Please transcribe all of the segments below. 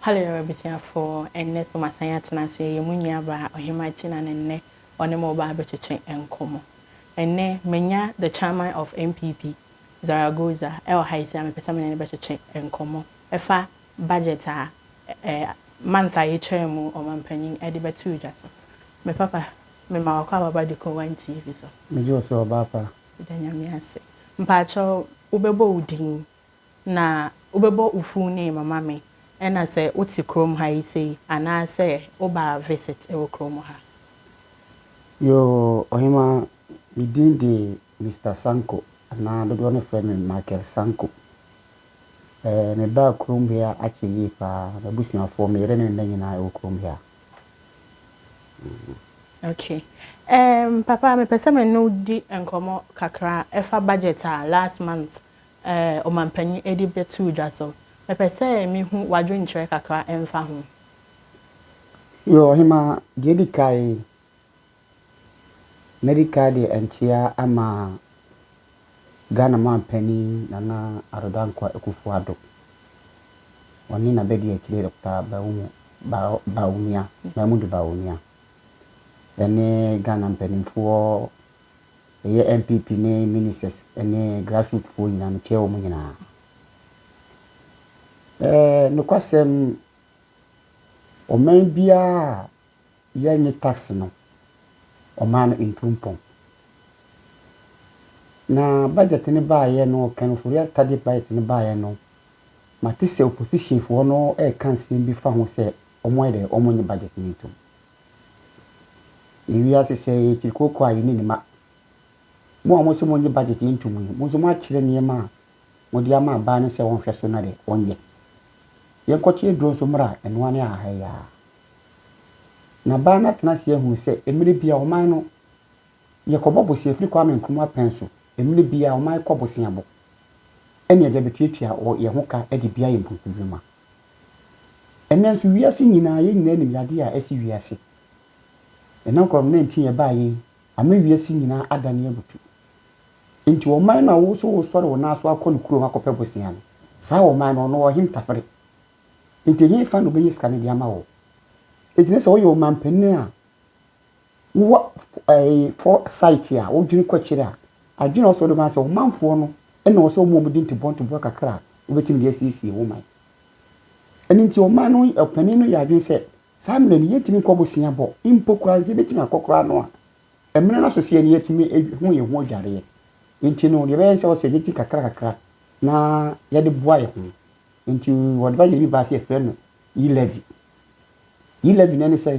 Hallelujah abusuafo, ɛnnɛ so masan atena ase ɛyɛ mo nuabaa Ɔhemmaa Kyina na nnɛ ɔne mo reba abɛtwetwe nkɔmmɔ. Ɛnnɛ manya the chairman of NPP Zaragoza ɛwɔ ha yi sei a mepɛ sɛ me ne no bɛtwetwe nkɔmmɔ ɛfa budget a ɛ month a yɛtwaa mu ɔmanpanyin ɛde bɛtoo dwa so. Me papa, mema w'akɔ ababa de kɔ one TV so. Megye wo sɛ ɔbaapa. Yɛda Nyame ase. Mpaakyɛw wobɛbɔ wo din Na wobɛbɔ wo fuu name ama me ɛna sɛ wote kurom ha yi sei anaa sɛ woba visit wɔ kurom ha. Yoo Ɔhemaa, me din de Mister Sanko anaa dodoɔ no frɛ me Michael Sanko. Ɛɛ me baa kurom ha akyɛ yie paa, m'abusuafoɔ, me yere ne me mma nyinaa wɔ kurom ha. Okay ɛɛm papa mepɛ sɛ me ne wo di nkɔmmɔ kakra ɛfa budget a last month eh, Ɔmanpanyin ɛde bɛtoo dwa so. Mepɛ sɛ mehu w'adwenkyerɛ kakra ɛmfa ho. Yoo, Ɔhemaa, deɛ ɛdi kae, mɛdi kae de nkyea ama Ghana Manpanyin Nana Addo Dankwa Akuffo Addo, ɔne n'abadiakyire Dɔkta Bawumo Ba Bawumia, Mahmudu Bawumia, ɛne Ghana mpanimfoɔ Ɛyɛ NPP ne ministers ne grassroot foɔ nyinaa mekyɛɛ wɔn nyinaa. Ɛɛ nokwasɛm ɔman biara a yɛnnye tax no ɔmaa no ntu mpɔn. Na budget no baeɛ no ɔkɛn no Foria Tadic budget no baeɛ no mate sɛ opposition foɔ no ɛɛka nsɛm bi fa ho sɛ wɔn ayɛ dɛ wɔn nye budget no ntum. Yɛ wiase sɛɛ yɛ akyiri kooko a yɛ ne ne ma. Mo a mo se mo nye budget ntom yi, mo nso mo akyerɛ nneɛma a mo de ama abaa no sɛ ɔnhwɛ so na dɛ ɔnyɛ. Yɛ nkɔkye aduro nso mmra ɛnoa ne ahaha yi aa. Na baa no atena ase ahunu sɛ mmere bi a ɔman no yɛ kɔ bɔ bosea firi Kwame Nkrumah pɛn so mmere bi a ɔman kɔ bosea bɔ ɛne yɛ de abɛtuatua wɔ yɛ ho ka ɛde bia yɛ mpuntunwuma. Ɛnnɛ nso, wiase nyinaa, yɛn nyinaa nim yadeɛ a asi wiase. Ɛnam Covid-19 a ɛbaeɛ yi ama wiase nyinaa adane abutu. Enti ɔman no a wo nso woresɔre wo nan so akɔ ne kurom akɔpɛ bosea no, saa ɔman no, ɔno ɔwɔ he ntafere? Enti hefa na ɔbɛnya sika no de ama wo? Enti na sɛ woyɛ ɔmanpanin a, Wowɔ foresight a, wodwene kɔ akyiri a, adwene a ɛwɔ sɛ wode ma ne sɛ wo manfoɔ no na ɛwɔ sɛ woma wɔn din ntoboa ntoboa kakra a wobɛtumi de asiesie wo man. Ɛno nti ɔman no ɔpanin no yɛ adwene sɛ saa mmerɛ no yɛntumi nkɔ bosea bɔ mpo koraa no, sɛ yɛbɛtumi akɔ koraa no a, mmerɛ no asoseɛ no yɛatumi ahu yɛn ho adwareɛ. Nti no deɛ ɛbɛyɛ ne sɛ ɛwɔ sɛ yɛgye kakra kakra na yɛde boa yɛn ho. Nti wɔde budget bi baa sɛ yɛfrɛ no e-levy. E-levy no ne sɛ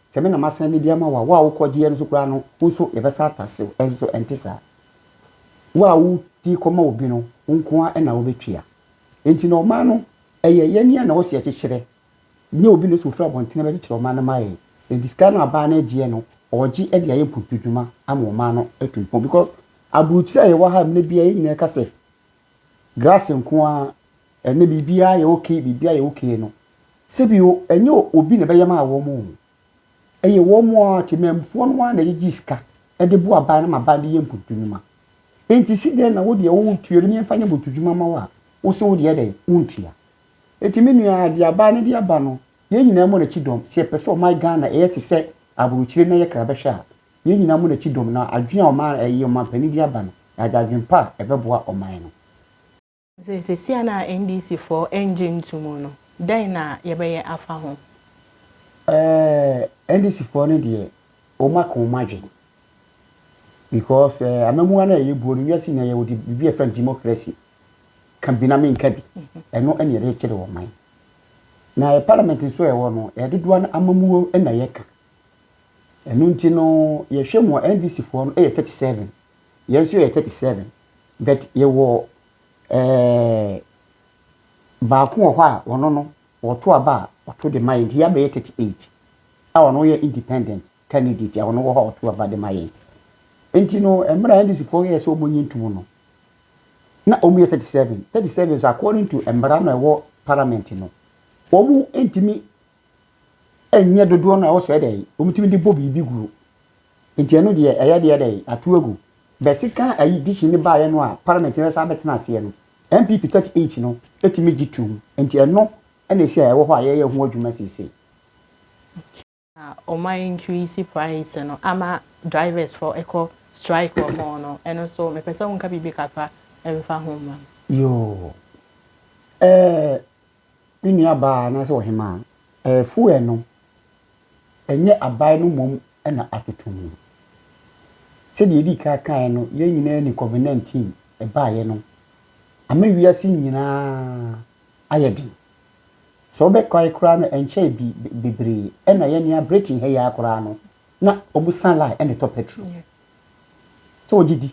Sɛ me na masan mede ama wo a, wo a wokɔgyeeɛ no nso koraa no, wo nso yɛbɛsan atase wo. Nanso so ɛnte saa? Wo a wode kɔma obi no, wo nko ara na wobɛtua. Enti na ɔman no, ɛyɛ yɛn a na ɛwɔ sɛ yɛkyekyerɛ, nyɛ obi na ɛsɛ sɛ ɔfiri abɔntene bɛkyekyere ɔman no ma yɛn. Enti sika no a baa no agyeɛ no, ɔregye de ayɛ mpuntuodwuma ama ɔman no atu mpɔn. Because aburokyire a yɛwɔ ha mmerɛ biara, yɛn nyinaa ka sɛ grass nko ara Ɛnnɛ biribiara yɛ ok, biribiara yɛ ok no, sɛbio ɛnyɛ obi na ɛbɛyɛ maa wɔn o. Ɛyɛ wɔn ara temanmufoɔ no ara na ɛgyegye sika de boa aban no ma aban de yɛ mpotunwuma. Enti si dɛn na wo deɛ wontua obi na yɛmfa nyɛ mpotunwuma mma wo a, wo se wo deɛ dɛn, wontua. Enti me nua, deɛ aban no de aba no, yɛn nyinaa mmɔ n'akyi dɔm. Sɛ yɛpɛ sɛ ɔman Ghana yɛ te sɛ aburokyire na yɛkra bɛhwɛ a, yɛn nyinaa mmɔ n'akyi dɔm na adwene a ɔman, ɛyi, ɔmanpanin de aba no, yɛagye adwene pa a ɛbɛboa ɔman no. Sɛ sesia no a NDC foɔ ɛngye nto mu no, dɛn na yɛbɛyɛ afa ho? Ɛɛh NDC foɔ no deɛ wɔn aka wɔn adwene because ɛɛh amamua no a ɛyɛ buo no wiase nyinaa yɛ wɔde biribi a yɛfrɛ no democracy ka bi na menka bi ɛno ɛna yɛde kyere wɔn man na yɛ parliament nso a ɛwɔ no ɛyɛ dodoɔ no amamuo ɛna yɛka ɛno nti no yɛhwɛ mu a NDC foɔ no ɛyɛ 37 yɛn nso yɛyɛ 37 But yɛwɔ eh, baako wɔ hɔ a ɔno no ɔto aba a ɔto de ma yɛn nti yɛabɛyɛ 38 a ɔno yɛ independent candidate a ɔno wɔ hɔ a ɔto aba de ma yɛn nti no mmerɛ a ndc foɔ yɛɛ sɛ wɔn nye ntum no na wɔn yɛ 37 37 so according to mmara na ɛwɔ parliament no wɔn ntumi ɛnyɛ dodoɔ no a wɔsɛ dɛn wɔtumi de bɔ biribi guo nti ɛno deɛ ɛyɛ deɛ dɛn ato agu bɛ sika ayi dihyɛ ne baayɛ no a parliament no bɛsa abɛtena aseɛ no NPP 38 no ɛtumi gye tum nti ɛno ɛna ɛsi a ɛwɔ hɔ a yɛyɛ ho adwuma seesei. Na wɔn a increase price no ama drivers foɔ ɛkɔ strike wɔ ho no ɛno nso mepɛ sɛ wo nka biribi kakra ɛmfa ho mma me. Yoo ɛɛ. Me nuabaa anaasɛ ɔhemaa, ɛɛfuɛ no, ɛnyɛ abae no mmom na atoto mu. Sɛdeɛ yɛdii kan kaeɛ no, yɛn nyinaa nim Covid 19, ɛbaeɛ no ama wiase nyinaa ayɛ den. Sɛ wobɛkae koraa no, ɛnkyɛe bi bebree na yɛn nea Britain ha yi ara koraa no, na wɔsa line de tɔ pɛtro. sɛ ɔgye di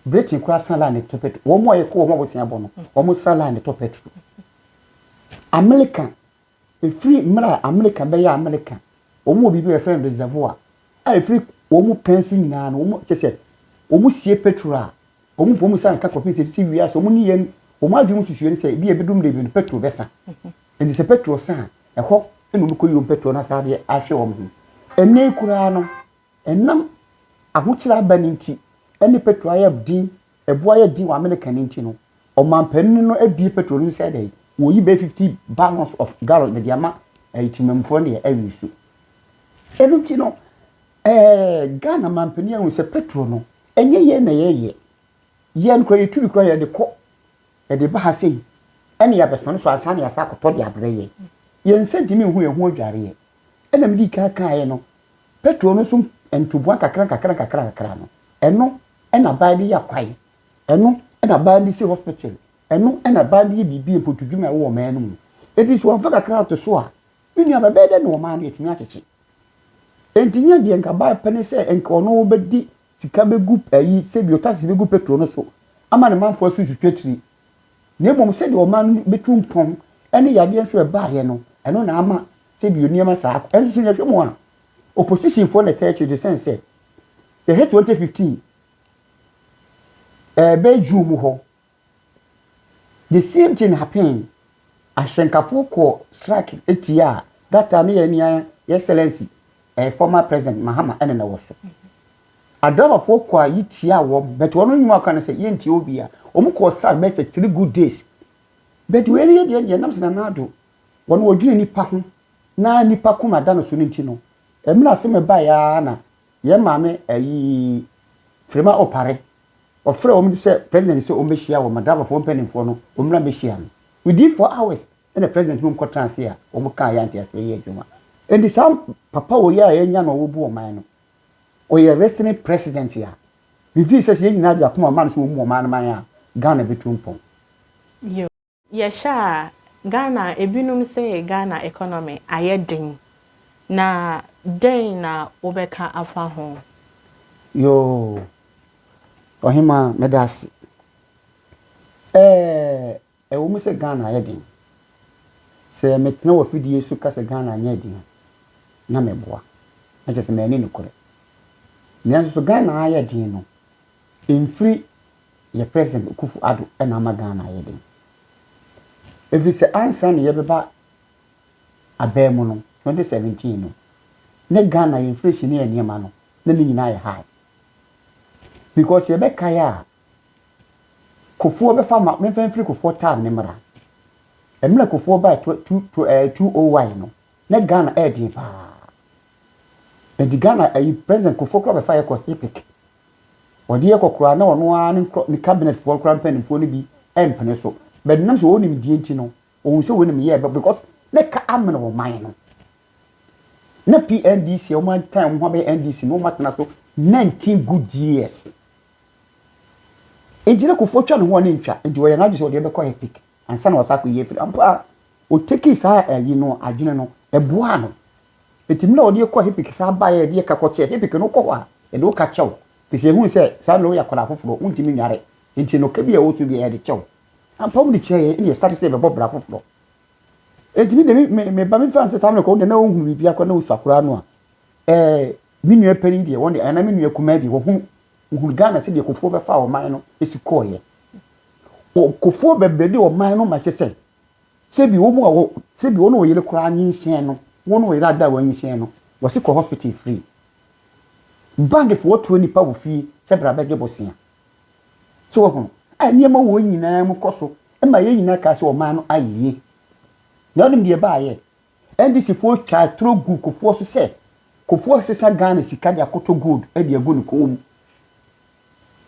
britain koraa san line tɔ petrol wɔn a yɛkɔ wɔn abosea bɔ no wɔn san line tɔ petrol america efiri mmerɛ a america bɛyɛ america wɔn wɔ biribi a yɛfrɛ no reservoir a efiri wɔn pɛn so nyinaa no wɔn kyɛ sɛ wɔn sie petrol a wɔn wɔn san ka kɔpem sɛ si wia sɛ wɔn ni yɛn wɔn adwene mu susuɛ no sɛ ebi ebedum de ebi no petrol bɛsa ɛdi sɛ petrol san ɛhɔ ɛna wɔn kɔ yi wɔn petrol na saa deɛ ahwɛ wɔn ho ɛnɛ koraa no. Ɛnam ahokyere aba no nti ne petro ayɛ den, ɛbo ayɛ den wɔ Amerika no nti no, ɔmanpanin no abue petro no sɛ dɛn? Wɔyi bɛyɛ 50 barrels of gallon de ama ɛyɛ Temamufoɔ no deɛ awie so. Ɛno nti no, ɛɛ Ghana manpanin ahu sɛ petro no, ɛnyɛ yɛn na yɛyɛ. Yɛn kora yɛtu bi kora yɛde kɔ, yɛde ba ha sei, ɛne yɛabɛsane so ansa na yɛasa akɔtɔ de abrɛ yɛn. Yɛn nsa ntumi nhu yɛn ho adwareɛ. Ɛna mede kan kaeɛ no, Petro no so ntoboa nkakrankakrankakrankakra no, ɛno na baa de yɛ kwae, ɛno na baa de si hospital, ɛno na baa de yɛ biribi mpotudwuma a ɛwɔ ɔman no mu. Enti sɛ wɔmfa kakra to so a, me nua, bɛbɛyɛ dɛn na ɔman no atumi akyekye? Enti nyɛ deɛ nka baa pɛ ne sɛ nka ɔno bɛdi sika bɛgu ayi, sɛbi ɔtaxes bɛgu petrol no so ama ne manfoɔ asusu twatiri, na mmom sɛdeɛ ɔman no bɛtu mpɔn ne yadeɛ nso a ɛbaeɛ no, ɛno na ama sɛbi nneɛma saa akɔ. Nso so yɛhwɛ mu a, oppositionfoɔ na ɛtaa akyire de sɛn sɛ, yɛhwɛ 2015 ɛɛ bɛyɛ June mu hɔ, The same thing happened. Ahyɛnkafo kɔɔ strike tia a that time yɛn nua yɛn excellency eh, former president Mahama ɛna na wɔ so. Adrabafoɔ kɔ a yi tia wɔn but wɔn nnwuma aka no sɛ yɛntia obi a wɔn kɔɔ strike bɛyɛ sɛ three good days but wei yɛ deɛ deɛ nam sɛ Nana Addo wɔn wɔdwene nipa ho na nipa koma da no so no nti no ɛmira asɛm ɛbaeɛ ara na yɛn maame ayi Firima Opare wɔfrɛ wɔn de sɛ president sɛ wɔn bɛhyia wɔn Madabafoɔ mpanimfoɔ no wɔn mmra bɛhyia no within four hours ɛna president no nkɔ tena ase a wɔn kaa yɛ anteaseɛ yɛ adwuma ɛnti saa papa wɔ yɛ a yɛnya na wɔbu ɔman no ɔyɛ wrestling president a mefii sɛ sɛ yɛn nyinaa de akoma ɔman no sɛ wɔn mu ɔman no man a Ghana bɛtu mpɔn. Yɛhwɛ a Ghana a, ebinom se Ghana economy ayɛ den, na dɛn na wobɛka afa ho? Yoo, Ɔhemaa, meda ase. Ɛɛ, ɛwɔ mu sɛ Ghana ayɛ den. Sɛ metena wɔ afidie so ka sɛ Ghana anyɛ den a, na meboa, na kyerɛ sɛ manni nokorɛ. Nanso so Ghana ayɛ den no, Ɛmfiri yɛ President Akuffo Addo na ama Ghana ayɛ den. Ɛfiri sɛ ansa na yɛbɛba abaa mu no, 2017 no, na Ghana yɛ inflation ne yɛ nneɛma no, na ne nyinaa yɛ high. Because yɛbɛkae a, Kuffour bɛfa ma, memfa mfiri Kuffour time no mmra. Mmerɛ Kuffour bae 2001 no, na Ghana ɛyɛ den paa. Ɛnti Ghana, President Kuffour koraa bɛfa yɛ kɔ HIPC. Wɔde yɛ kɔ koraa na ɔno ara ne nkorɔ ne cabinet foɔ koraa mpaninfoɔ no bi mpene so but nam sɛ wɔn nim deɛ nti no wɔn sɛ wɔn nim yɛ ɛbɛ because ne ka amene wɔn man no na PNDC a wɔn atan wɔn ho abɛyɛ NDC no wɔn atena so 19 good years nti ne kofoɔ twa ne ho ɔne ntwa nti wɔyɛ n'adwe sɛ wɔde ɛbɛkɔ yɛ pick ansa na wɔsa akɔ yɛ firi ampa wɔteki saa ɛyi no adwene no ɛboa no Enti mmerɛ a wɔde yɛ kɔɔ Hepik san baeɛ a yɛde yɛ ka kɔ kyɛɛ Hepik no wokɔ hɔ a yɛde wo ka kyɛ wo ɛfiri sɛ yɛhunu sɛ saa mmerɛ yi woyɛ akwadaa foforɔ wontumi nnware enti no ka bi a ɛwɔ so biara yɛde kyɛ wo ampa wɔde kyɛɛ yɛn ɛna yɛstate sɛ yɛbɛbɔ bra foforɔ enti me deɛ me me ba me fa sɛ saa mmerɛ kɔ wodeɛ na wohunu biribiara kɔ na wosua koraa no a ɛɛ me nua panin deɛ wɔn deɛ ɛna me nua kumaa deɛ wɔhunu wohunu Ghana sɛdeɛ kofoɔ bɛfa ɔman no ɛsi kɔɔyɛ kofoɔ bɛbrɛ de ɔman no ma kyɛ sɛ sɛ bi wɔn a wɔ sɛ bi wɔn a wɔyere koraa nyinsɛn no wɔn a wɔyere ada a wɔanyinsɛn no wɔsi kɔ hospital free bandifoɔ tuo nipa wɔ fie sɛ bra bɛgye bosea so wɔ ho a nneɛma wɔn nyinaa mu kɔ so ɛma yɛn nyinaa kaa sɛ ɔman no ayeye na ɔnim deɛ baayɛ NDCfoɔ twaa atoro guu Kufuor so sɛ Kufuor resesa Ghana sika de akoto gold de agu ne kɔn mu.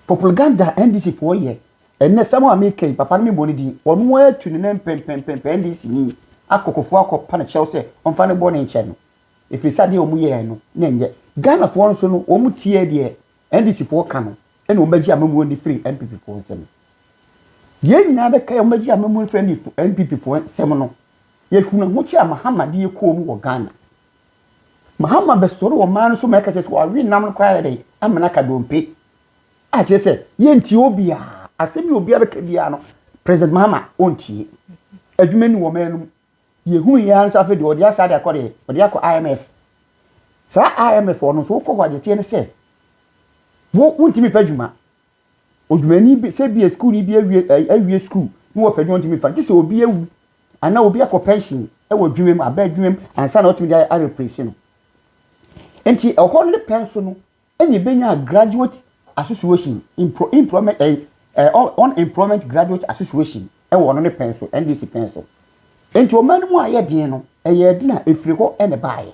Poplganda a NDCfoɔ yɛ ɛnnɛ sɛm a meka yi papa no memmɔ ne din, ɔno ara tu ne nan pɛmpɛmpɛmpɛ NDCni akɔ Kufuor akɔpa no kyɛw sɛ ɔmfa ne bɔne nkyɛ no ɛfiri sɛ adeɛ a wɔyɛɛ no na ɛnyɛ. Ghanafoɔ nso no wɔtiee deɛ NDCfoɔ ka no ɛna wɔbɛgye amammuo no firi NPPfoɔ nsam. Yei nyinaa bɛka yɛ wɔbɛgye amammuo no firi NPPfoɔ nsam no Yɛhunu ahokyere a Mahama de yɛ komm wɔ Ghana. Mahama bɛsɔre wɔ man no so ma ɛka kyerɛ sɛ wawe nam no koraa ayɛ dɛn, amena aka dompe. A kyerɛ sɛ yɛntie obiara. Asɛm yi obiara bɛka biara no, President Mahama ɔntie. Adwuma ni wɔ man no mu. Yɛhunu yɛn ara nso afei deɛ ɔde asa de akɔ deɛ, ɔde akɔ IMF. Saa IMF hɔ no nso wokɔ hɔ a deɛ ɛteɛ ne sɛ, wo wontumi mfa adwuma. Odwumani bi, sɛ ebia sukuuni bi awie ɛ, awie sukuu na wɔpɛ adwuma a ɔntumi mfa, gye sɛ obi awu anaa obi akɔ pɛnhyen wɔ adwuma mu, aba adwuma mu ansa na wɔatumi de a, areplese no. Enti ɛhɔ no ne pɛn so no ɛna ebenya graduate association, emplo, employment, ɛyi, ɛ, unemployment graduate association wɔ ɔno ne pɛn so, NDC pɛn so. Enti ɔman no mu a ɛyɛ den no, ɛyɛɛ den a, ɛfiri hɔ na ɛbaeɛ.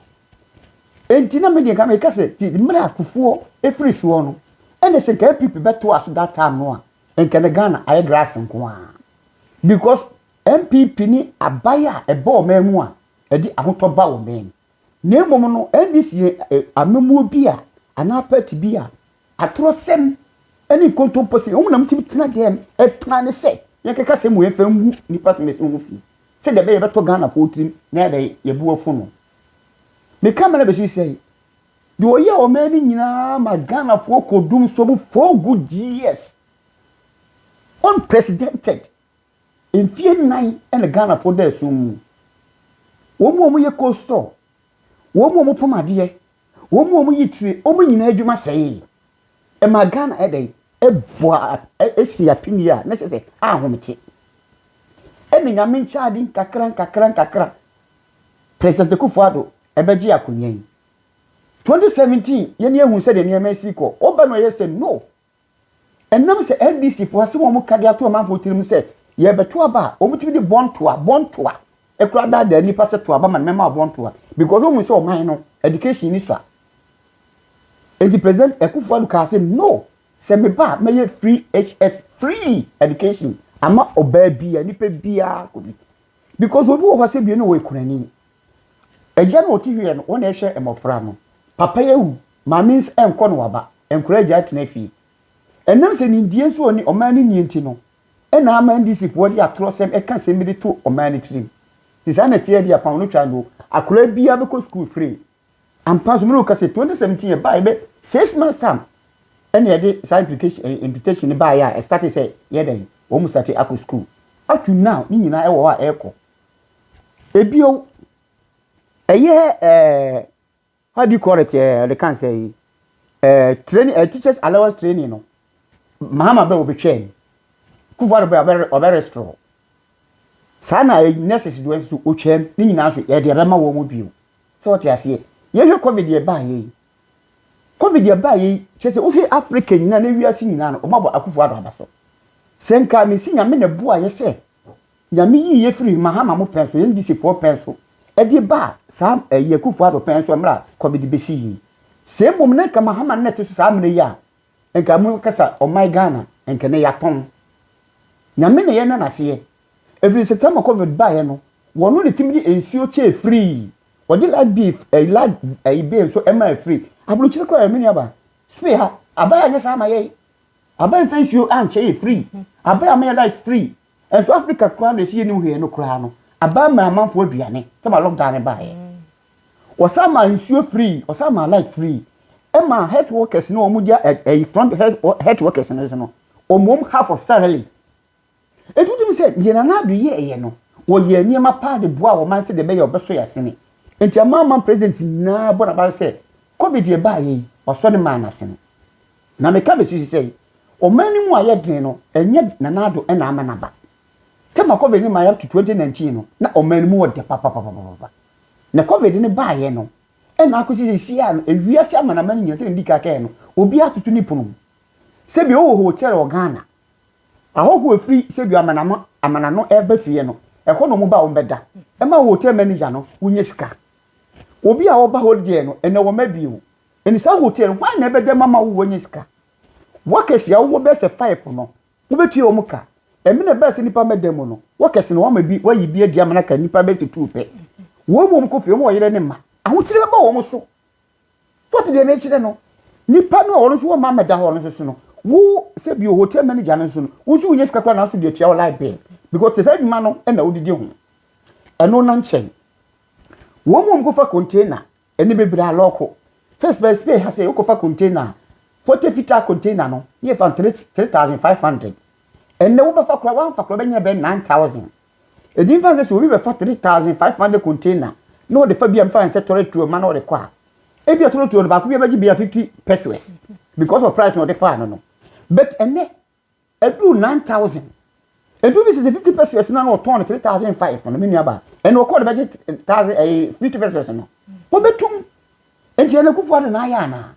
Enti na me deɛ nka meka sɛ ti mmerɛ a kufuɔ ɛfiri soɔ no ɛne sɛ nka NPP bɛto ase that time no a nka na Ghana ayɛ grass nko ara because NPP ne aban a ɛba ɔman mu a ɛde ahotɔ ba ɔman mu na mmom no NDC yɛ amamuo bi a anaa party bi a atorɔsɛm ɛne nkontompo sɛ wɔn na wɔtumi tena dɛm ɛplan ne sɛ yɛnkeka sɛ mu yɛmfa ngu nipa sɛ mɛsɛ ho fi sɛdeɛ ɛbɛyɛ yɛbɛtɔ Ghanafoɔ tirim na yɛbɛyɛ yɛbu afo no Me camera bɛsi sɛe. Deɛ ɔyɛ ɔman no nyinaa ma Ghanafoɔ kɔdum so mu four good years. Unprecedented. Mfie nnan ɛna Ghanafoɔ da ɛsom mu. Wɔn mu a wɔyɛ cold store, wɔn mu a wɔpam adeɛ, wɔn mu a wɔyi tire, wɔn nyinaa adwuma sɛe. Ɛma Ghana ɛdɛ ɛboa ɛsi apini a na kyerɛ sɛ ahomete. Ɛna nyame nkyɛ ade nkakra nkakra nkakra. President Akuffo Addo bɛgye akonya yi. 2017 yɛn ni ehu sɛdeɛ nneɛma ɛsi kɔ. Ɔba no ɛyɛ sɛ no. Ɛnam sɛ NDC foɔ asɛm a wɔn ka de ato amanfoɔ tirim sɛ yɛrebɛto aba a, wɔn tumi de bɔntoa, bɔntoa, ɛkura adaadaa nnipa sɛ to aba ma no mɛma wo bɔntoa because wɔn hu sɛ ɔman no education ni sa. Enti President Akuffo Addo kaa sɛ no, sɛ meba a mɛyɛ free HS, free education ama ɔbaa bia, nipa biara kɔ bi. Because obi wɔ hɔ sɛ bie no ɔyɛ kunani. Agya no ɔte hwiɛ no ɔna ɛhwɛ mmɔfra no. Papa yi awu, maame nsa ɛnkɔ no waba, nkwadaa agya atena fie. Ɛnam sɛ nimdeɛ nso ɔne ɔman no nnie nti no ɛna ama NDC foɔ de atorɔ sɛm ɛka sɛm bi de to ɔman no tirim. Sɛ saa na ɛteɛ deɛ kwan no twa no o, akwadaa biara bɛkɔ sukuu free. Ampa so mene wo kase 2017 ɛbaeɛ bɛ six months time ɛna yɛde saa implication implication no baeɛ a ɛstate sɛ yɛ dɛn wɔn mu state akɔ school up to now ne nyinaa ɛwɔ hɔ a ɛkɔ ebio ɛyɛ ɛɛ how do you call it ɛɛ ɔde kan sɛ yi ɛɛ training ɛɛ teachers allowance training no mahama bɛ wɔbɛtwaa mu kufuwa bɛ ɔbɛ ɔbɛ restore. saa na nurses doɔ nso ɔtwaam ne nyinaa nso yɛde ɛbɛma wɔn mu bio sɛ wɔte aseɛ yɛhwɛ covid yɛ baa yɛ yi covid yɛ baa yɛ yi kyɛ sɛ wohwɛ africa nyinaa ne wiase nyinaa no wɔn abɔ akufo ado aba so sɛ nka mesi nyame na boa yɛ sɛ nyame yi yɛ firi mahama mo pɛn so yɛn disifoɔ pɛn so ɛde baa saa ɛyɛ akufo ado pɛn so mmerɛ covid bɛsi yi sɛ mmom na nka mahama na ɛte so saa mmerɛ yi a nka mo kasa ɔman Ghana nka nɛ yatɔn Nyame na yɛ nɛ naseɛ ɛfiri sɛ tɛmɔ covid baɛ no wɔno na timi de nsuo kyɛɛ free ɔgye light beef ɛyi light ɛyi bill nso ɛmaa free abrokyire kora yɛ menua ba spay ha aban anyɛ saa ama yɛn aban fɛ nsuo ankyɛ yɛ free aban ama yɛ light free Nso Africa koraa na ɛsi yɛ nim hwee no koraa no abaa maa amanfoɔ aduane sɛ ma lockdown no baeɛ wɔsan maa nsuo free wɔsan maa light free ɛma health workers no wɔn gya ɛyi front health workers no so no wɔn half of salary etu tum sɛ deɛ nana ado yɛ ɛyɛ no wɔyɛ nneɛma paa de boa wɔn man sɛ deɛ bɛyɛ ɔbɛso yɛ asene nti ama ama president nyinaa bɔ n'aba sɛ covid yɛ baayɛ yi wɔsɔ ne maa n'asene. Na meka besusu sɛ ɔman no mu ayɛ den no ɛnyɛ Nana Addo na ama no aba. Tema covid no mae up to twenty nineteen no na ɔman no mu wɔ dɛ papapapapapa. Na covid no baeɛ no na akosi seisiaa no ewiase amanaman nyinaa sɛdeɛ medi kan kaeɛ no obiara atoto ne pono mu. Sɛbi wowɔ hotel wɔ Ghana, ahɔhoɔ ɛfiri sɛbi amanama amanano ɛba fie no ɛhɔ na wɔba a wɔbɛda ɛma wo hotel manager no wonya sika. Obi a ɔba holiday no ɛnɛ wɔma bio Ɛne saa hotel no hwan na ɛbɛda mu ama wo woanya sika? Workers a wɔwɔ bɛyɛ sɛ five no wobɛtua wɔn ka. Ɛmene ɛbɛyɛ sɛ nnipa mmɛda mu no workers no wɔama bi wɔayi bi adi ama no aka nnipa bɛyɛ sɛ two pɛ. Wɔn mu wɔn kɔ fie wɔn ɔyere ne mma ahokyere bɛba wɔn so. What deɛ mekyerɛ no nnipa no a wɔn nso wɔma mmɛda hɔ no nso so no wo sɛ bio hotel manager no nso no wo nso wonya sika koraa nanso deɛ tua wo light bill because saa adwuma no ɛna wodidi ho ɛno na nkyɛn wɔn mu wɔn kɔfa container Emi bebira lɔɔko. First bɛyɛ spare ha sɛ wokɔfa container a, fɔte fitaa container no ne yɛfa no three three thousand five hundred. Ɛnnɛ wobɛfa koraa woamfa koraa wobɛnya bɛyɛ nine thousand. Ɛdi mfa nsɛ sɛ obi bɛfa three thousand five hundred container na ɔde fa bi a mfa nsɛ tɔre tuo ma na ɔde kɔ a, ebi a tɔre tuo no baako bi abɛgye bia fifty pesos because of price na ɔde faa no no. But ɛnnɛ Ɛduru nine thousand. Ɛduru ne sɛ sɛ fifty pesewas na na ɔtɔn no three thousand five no me nua ba ɛna ɔkɔɔ no bɛgye thousand ɛyɛ eh, fifty pesewas no wɔbɛtum nti ɛna kufu ado na ayɛ anaa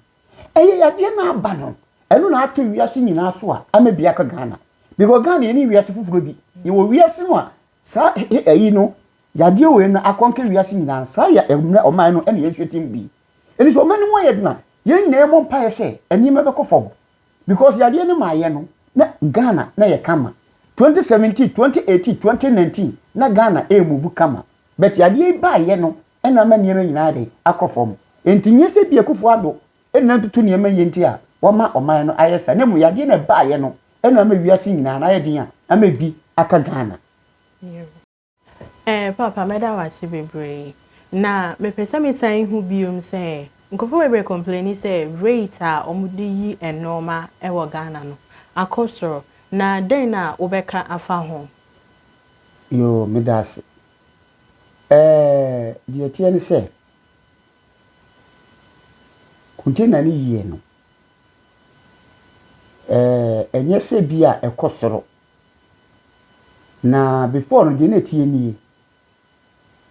ɛyɛ yadeɛ na aba no ɛno na ato wiase nyinaa so a ama bi aka Ghana because Ghana yɛ ne wiase foforɔ bi yɛwɔ wiase mu a saa ɛyi no yadeɛ wei no akɔnkɛ wiase nyinaa no saa yɛ ɛmmerɛ ɔman no ɛna yɛnsuatim bi ɛni sɛ ɔman no mu ayɛ dena yɛn nyinaa yɛmmɔ mpaeɛ sɛ nneɛma bɛkɔ fam Because yadeɛ no maa yɛ no na Ghana na yɛ kama 2017, 2018, 2019 na Ghana ɛɛ move kama but yadeɛ yi baa yɛ no ɛna ama nneɛma nyinaa ayɛ dɛn akɔ fam ɛnti nyɛ sɛ bi Akufo Addo ɛna atutu nneɛma yie nti a wama ɔman no ayɛ saa na mmom yadeɛ na ɛbaa yɛ no ɛna ama wiase nyinaa no ayɛ den a ama ɛbi aka Ghana. Eh papa mɛda wo ase bebree. Na mepɛ sɛ me san hu biom sɛ nkurɔfoɔ bebree complaini sɛ rate a wɔde yi nnoɔma wɔ Ghana no akɔ soro na dɛn na wobɛka afa ho? Yoo meda ase. Eh deɛ ɛteɛ ne sɛ container no yie no eh ɛnyɛ sɛ bi a ɛkɔ soro. Na before no deɛ na ɛteɛ nie,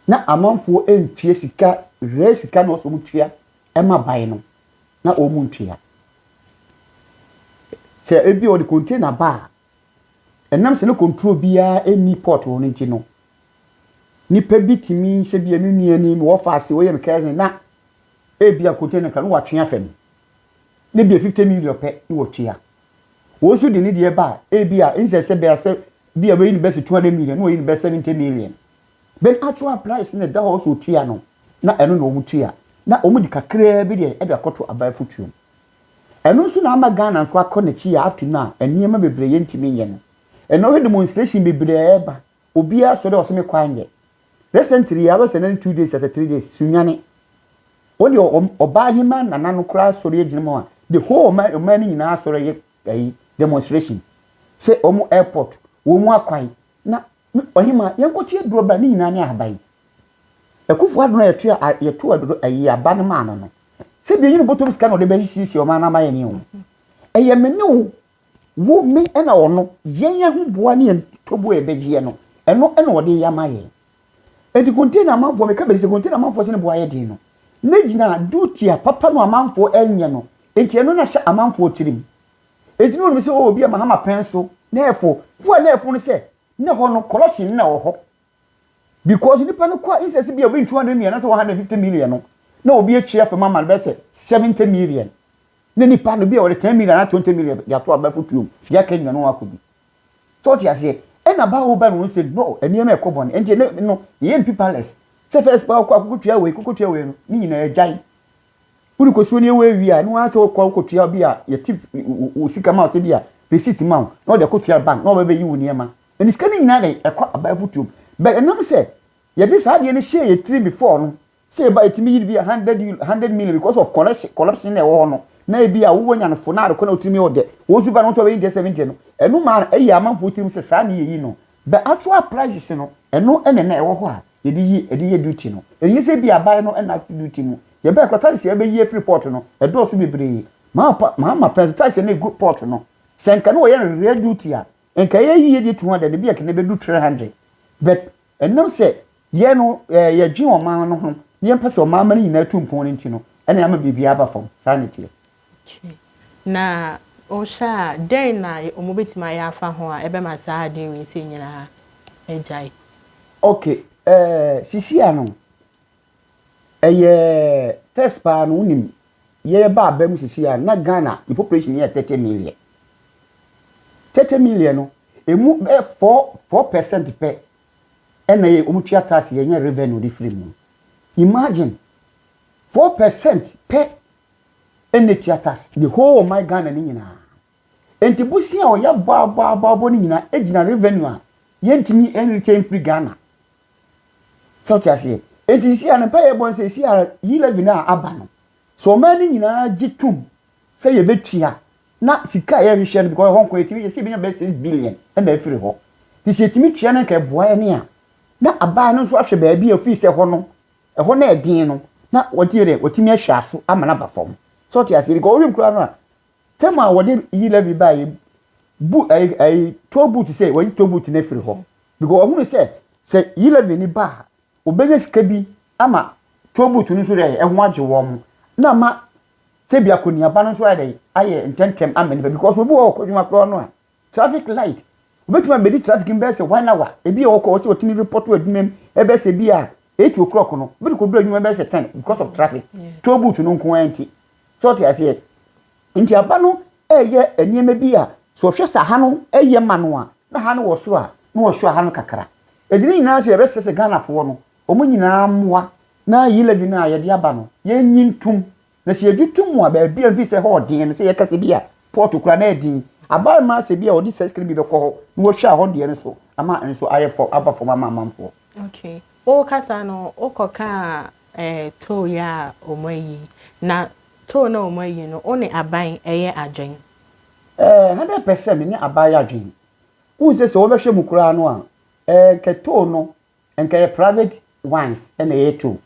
na amanfoɔ ntua sika rare sika na wɔsɛ wɔn tua ɛma ban no, na wɔn ntua. Sɛ ebi wɔde container ba a, ɛnam sɛ ne control biara ɛnni port hɔ no nti no, nipa bi tumi sɛ bi ɛmi nua ni mi wɔfa ase wɔyɛ mi cousin na ebi a container kra no wɔatwe afam, ne bi yɛ fifty million pɛ na wɔtua. Wɔn nso de ne deɛ ba a, ebia instead sɛ bɛyɛ sɛ bi a bɛyi ne bɛyɛ sɛ 200 million na wɔyi ne bɛyɛ 70 million. Then actual price na ɛda hɔ sɛ ɔtua no na ɛno na wɔn tua na wɔn de kakraa bi deɛ ɛde akɔto aban afutuom. Ɛno nso na ama Ghana nso akɔ n'akyi a up to now nneɛma bebree yɛntumi nyɛ no. Ɛnna wohwɛ demonstration bebree a ɛreba Obiara sɔ dɛ ɔse me kɔ anyɛ. Recently yi a bɛsɛ na ne two days asɛ three days Sunyani. Wɔn deɛ wɔn ɔbaahemaa nana no koraa asɔre agyina mu a the whole ɔman ɔman no nyinaa asɔre ayɛ ɛyi demonstration sɛ wɔn airport wɔn mu akwan na me ɔhemaa yɛn kɔkye aduro ba ne nyinaa ne ahaban. Akufo Addo na yɛto a yɛto aduro ɛyi aba no maa no no. Sɛ bi enyi no bɔtɔ mu sika na ɔde bɛsiesie ɔman no ama yɛn ne wɔn. Ɛyɛ me ne wo Wo, me, ɛna ɔno, yɛn ahoboa ne yɛn toboa a yɛbɛgyeɛ no, ɛno na ɔde yɛ ama yɛn. Enti container amanfoɔ, meka bɛsi sɛ container amanfoɔ sɛ ne boa yɛ den no, na gyina duty a papa no amanfoɔ ɛnyɛ no, enti ɛno na hyɛ amanfoɔ tirim. Enti na ɔnim sɛ oh, obi a Mahama pɛn so, na ɛfo, fo a na ɛfo no sɛ, na hɔ no corruption na wɔ hɔ. because nipa no kɔ incense bi a obi two hundred million anaasɛ one hundred fifty million no na obi atwi afam ama no bɛyɛ sɛ seventy million ne nipa no bi a wɔde ten million anaa twenty million de ato abɛfo tuom de aka nyina no akɔdi so ɔte aseɛ ɛna ba wo ba no sɛ no nneɛma ɛkɔ bɔne ɛnti ɛnɛ no yɛyɛ mpi palace sɛ first ba wokɔ akokɔtua wei kokɔtua wei no ne nyinaa agyae wode kɔsuo ne ɛwɔ awie a ne waa sɛ wokɔ wokɔtua bi a yɛte wo sika ma wo sɛ bi a receipt ma wo na wɔde akɔtua bank na wɔbɛbɛyi wo nneɛma Yɛde sika no nyinaa de kɔ aba afutuom. But ɛnam sɛ yɛde saa adeɛ no hyɛɛ yɛn tirim before no, sɛ yɛba yɛtumi yi no bi a hundred euro, hundred million because of corruption, corruption na ɛwɔ hɔ no, na ebi a wowɔ nya no fo na ade kɔ na wotumi yɛ ɔdɛ. Wɔn nso ba no, wɔn nso abɛyi deɛ seventy no. Ɛno ma ɛyɛ amanfoɔ tirim sɛ saa na yɛyi no. But actual prices no, ɛno na na ɛwɔ hɔ a yɛde yi, ɛde yɛ duty no. Ɛnyɛ sɛ ebi a abaeɛ no na ato duty mu. Yɛbaeɛ koraa taxes a yɛbɛyi afiri port no, ɛdɔɔso bebree. Mahama pɛ nso taxes a na ɛgu port no, sɛ nka na wɔyɛ no real duty a, nka yɛ yie deɛ two hundred ebi ɛkɛnɛ bɛdu three hundred but ɛnam sɛ yɛ no ɛɛ yɛdwen ɔman no ho na yɛn pɛ sɛ ɔman ma no nyinaa tu mpɔn no nti no ɛna ama biribi aba fam saa na ɛteɛ. Okay na wohwɛ a dɛn na wɔn bɛtumi ayɛ afa ho a ɛbɛma saa adeɛ wei sɛ nyinaa agyae. Okay ɛɛ sisi ano Ɛyɛ test paa no wonim yɛba aba mu sisi a na Ghana yɛ population yɛ 30 million 30 million no emu bɛ 4 4 percent pɛ ɛna yɛ wɔn tua tax yɛ nyɛ revenue de firi mu imagine 4 percent pɛ ɛna tua tax the whole ɔman Ghana ne nyinaa Enti bosea a ɔyɛ aboaboaboaboa no nyinaa gyina revenue a yɛntumi nretain mfiri Ghana. Sɛ wote aseɛ? Enti sisi a ne mpaeɛ yɛbɔ no sɛ sisi a yi levy no a aba no, sɛ ɔman no nyinaa gye tom sɛ yɛbɛtua na sika a yɛhwehwɛ no because ɛhɔ nko yɛtumi yɛsɛ yɛbɛnya bɛyɛ six billion na afiri hɔ. Nti sɛ yɛtumi tua no nka ɛboa yɛne a na abaa no nso ahwɛ baabi a ofii sɛ ɛhɔ no ɛhɔ na ɛden no na wɔte yɛ dɛ wɔtumi ahwɛ aso ama no aba fam. Sɛ wote aseɛ because wohwɛ mu koraa no a Tam a wɔde yi Levi bae yi bu ɛyi ɛyi tow boot sɛ wɔyi tow boot no afiri hɔ because wɔhunu sɛ sɛ yi Levi ni ba a obenya sika bi ama tow boot no nso dɛ ɛho agye wɔn na ama sɛ bi akɔniaba no nso ayɛ dɛ ayɛ ntɛntɛm ama nipa because obi wɔ hɔ ɔkɔ adwuma koraa no a Traffic light, obetumi abedi traffic mu bɛyɛ sɛ one hour, ebi a ɔkɔ hɔ sɛ ɔtumi report wɔ adwuma mu ɛbɛyɛ sɛ bi a eight o'clock no, obi de kɔduru adwuma ɛbɛyɛ sɛ ten because of traffic, toll booth no nko ara nti. Sɛ ɔte aseɛ? Nti aba no ɛyɛ nneɛma bi a sɛ ɔhwɛ sɛ ha no ɛyɛ ma no a, na ha no wɔ soro a, na ɔsɔ ha no kakra. Ɛdi ne nyinaa sɛ yɛbɛsrɛ sɛ Ghanafoɔ no, wɔn nyinaa mmoa na yi levy no a yɛde aba no, yɛnyi ntom. Na sɛ yɛgye to mu a, baabi a mfi sɛ hɔ ɔden no, sɛ yɛka sɛ bi a pɔɔto koraa na ɛden aba mmaa sɛ bi a wɔde sɛsikere bi bɛkɔ hɔ na wɔahwɛ a hɔ deɛ no so ama nso ayɛ fam, aba fam ama amanfoɔ. Okay. Woka saa no, wokɔka eh, tow yi a wɔn ayi. Na tow na wɔn ayi no, wo ne aban ɛyɛ adwen? Eh, hundred percent me ne aban yɛ adwen. Wohu sɛ sɛ wɔbɛhwɛ mu koraa no a, eh, kɛ tow no Nka yɛ private ones ɛna yɛ to.